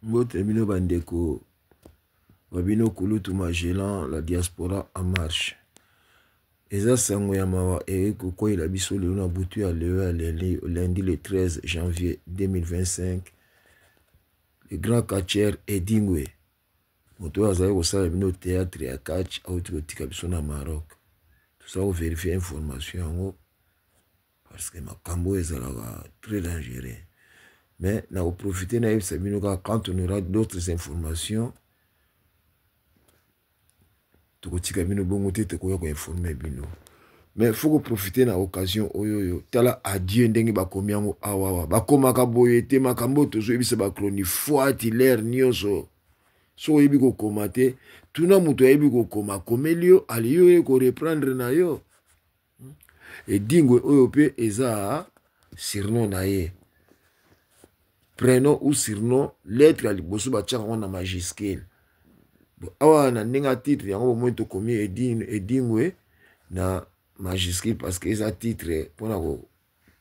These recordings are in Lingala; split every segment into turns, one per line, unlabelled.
Mbote bino bandeko ba bino kulutu Magellan la diaspora en marche eza sango ya mawa eye kokweyela biso lelo na butu ya lelo ya lundi le 13 janvier 2025 le grand catcher Edingwe moto oyo azali kosala bino théâtre ya catch auti kotika biso na Maroc toza koverifie information yango parce que makambo oyo ezalaka très dangereux mais na koprofite nayebisa bino kaka quand on aura d'autres informations tokotika bino bongo te tokoya koinforme bino mais faut koprofite na occasion oyo oyo tala adieu ndenge bakomi yango awawa bakomaka boye te makambo oyo tozoyebisa bachronifuati lere nyonso soki oyebi kokoma te tuna moto ayebi kokoma akomeli yo aliyo ye koreprendre na yo Hmm? Edingwe oyo pe eza surnom na ye. Prenom ou surnom, lettre ya liboso batiaka yango na majuscule. Awa na ndenge ya titre yango bomoni tokomi Edingwe na majuscule parce que eza titre mpona ko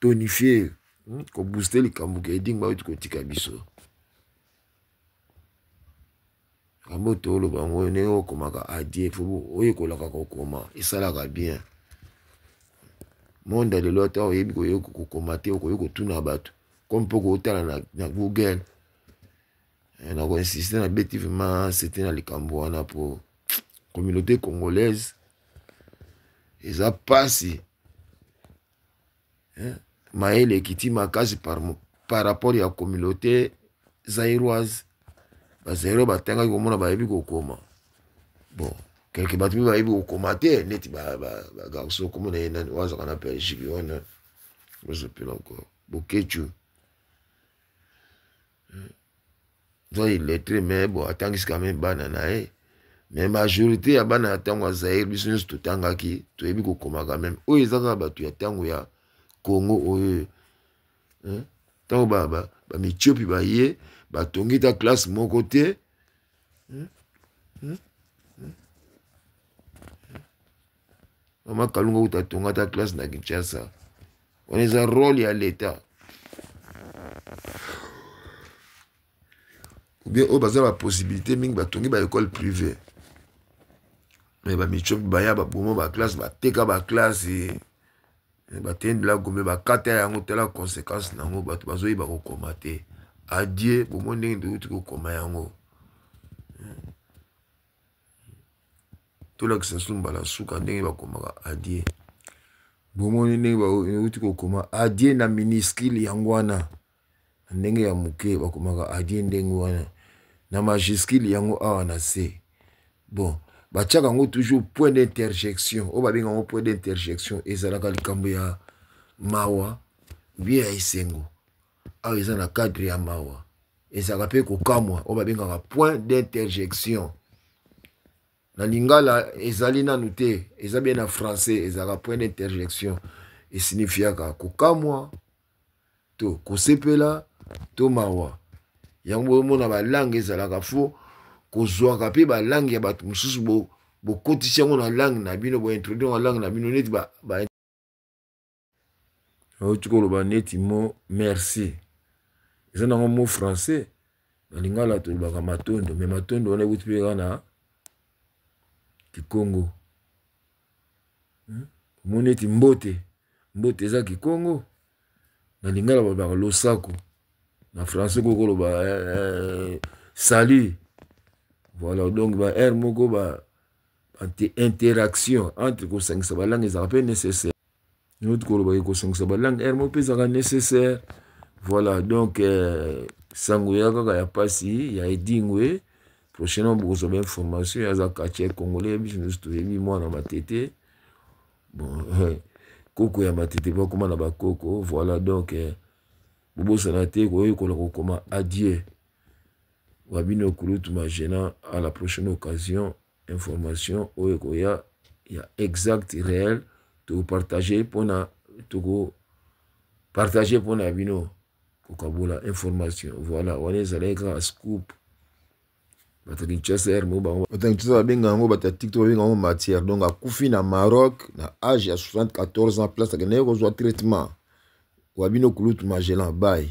tonifier hmm? ko booster likambo ke Edingwe oyo tikotika biso. makambo oyo tooloba yango oyo ndenge okomaka adie fo oyekolaka kokoma esalaka bien monde ya lelo ata oyebi koyei kokoma te okoki kotuna bato comme mpo kootala na, na google eh, na koinsiste na beti vraimen sete na likambo wana mpo communauté congolaise eza mpasi eh, mayele ekiti makasi par, par rapport ya communauté zairoise bazairo batangaki komona bayebi kokoma bon quelque bato mpe bayebi kokoma te neti bagarso okomona ye nani wazaka na belgique wana bozopela encore bokecu hmm. oza illettré mais bon atangisi quand même bana na ye mais majorité ya bana ya ntango ya zaire biso nyonso totangaki toyebi kokoma quand même oyo eza kaka bato ya ntango ya congo oyo hmm. ntango bamicopi ba, ba baye batongi ta classe moko te hmm. Hmm. mama kalunga kuta atonga ata classe na kinshasa wana eza role ya leta oubien oyo baza bapossibilité mingi batongi baekole privé me bamicopi baya baboma baklasse bateka baklasse eh, batendela gome bakata yango tala conséquence na yango bato bazoyeba kokoma te adie bomoi ndenge ndouti kokoma yango tolakisa su mbala suka ndenge bakomaka adie bomoni ndenge bauti kokoma adie na miniskile yango wana na ndenge ya moke bakomaka adie ndenge wana na majiskile yango awa na se bon batiaka yango toujours point d'interjection oyo babenga yango point d'interjection ezalaka likambo ya mawa bie ya esengo awa eza na cadre ya mawa ezalaka mpe kokamwa oyo babengaka point d'interjection na lingala ezali nanu te eza bie na français ezalaka point d'interjection esinifiaka kokamwa to kosepela to mawa yango boyomona balange ezalaka fo kozwaka mpe balange ya bato mosusu bokotisi yango na lange na bino bointroduire na lange na bino neti auti koloba neti mo merci eza nango mo français na lingala tolobaka matondo me matondo wana ekuti mpe kaka na kikongo hmm? omoni eti mbote mbote eza kikongo na lingala balobaka losako na français koko loba eh, eh, salut voilà donc ba aire moko ba interaction entre kosangisa balangue ezalaka mpe nécessaire noti koloba ye kosangisa balangue ere moko mpe ezalaka nécessaire voilà donc euh, sango ya kaka ya pasi ya edingwe prochainement bokozwa ba information aza katia congolais biso nyonso toyebi mwana matete bon euh, koko ya matete bakoma na bakoko voilà donc euh, bobosana te koyekola kokoma adieu wabino kulutu magena à la prochaine occasion information oyo ekoya ya exact réel tokopartage mpona tokopartage mpona ya bino kokabola information voilà wana ezalaki kaka scoop bato kinshasa r mo bango bato kinshasa babenga yango bato ya tiktok babenga yango matière donc akufi na maroc na age ya 74 ans place akendaki kozwa traitement wa bino kulutu magellan baye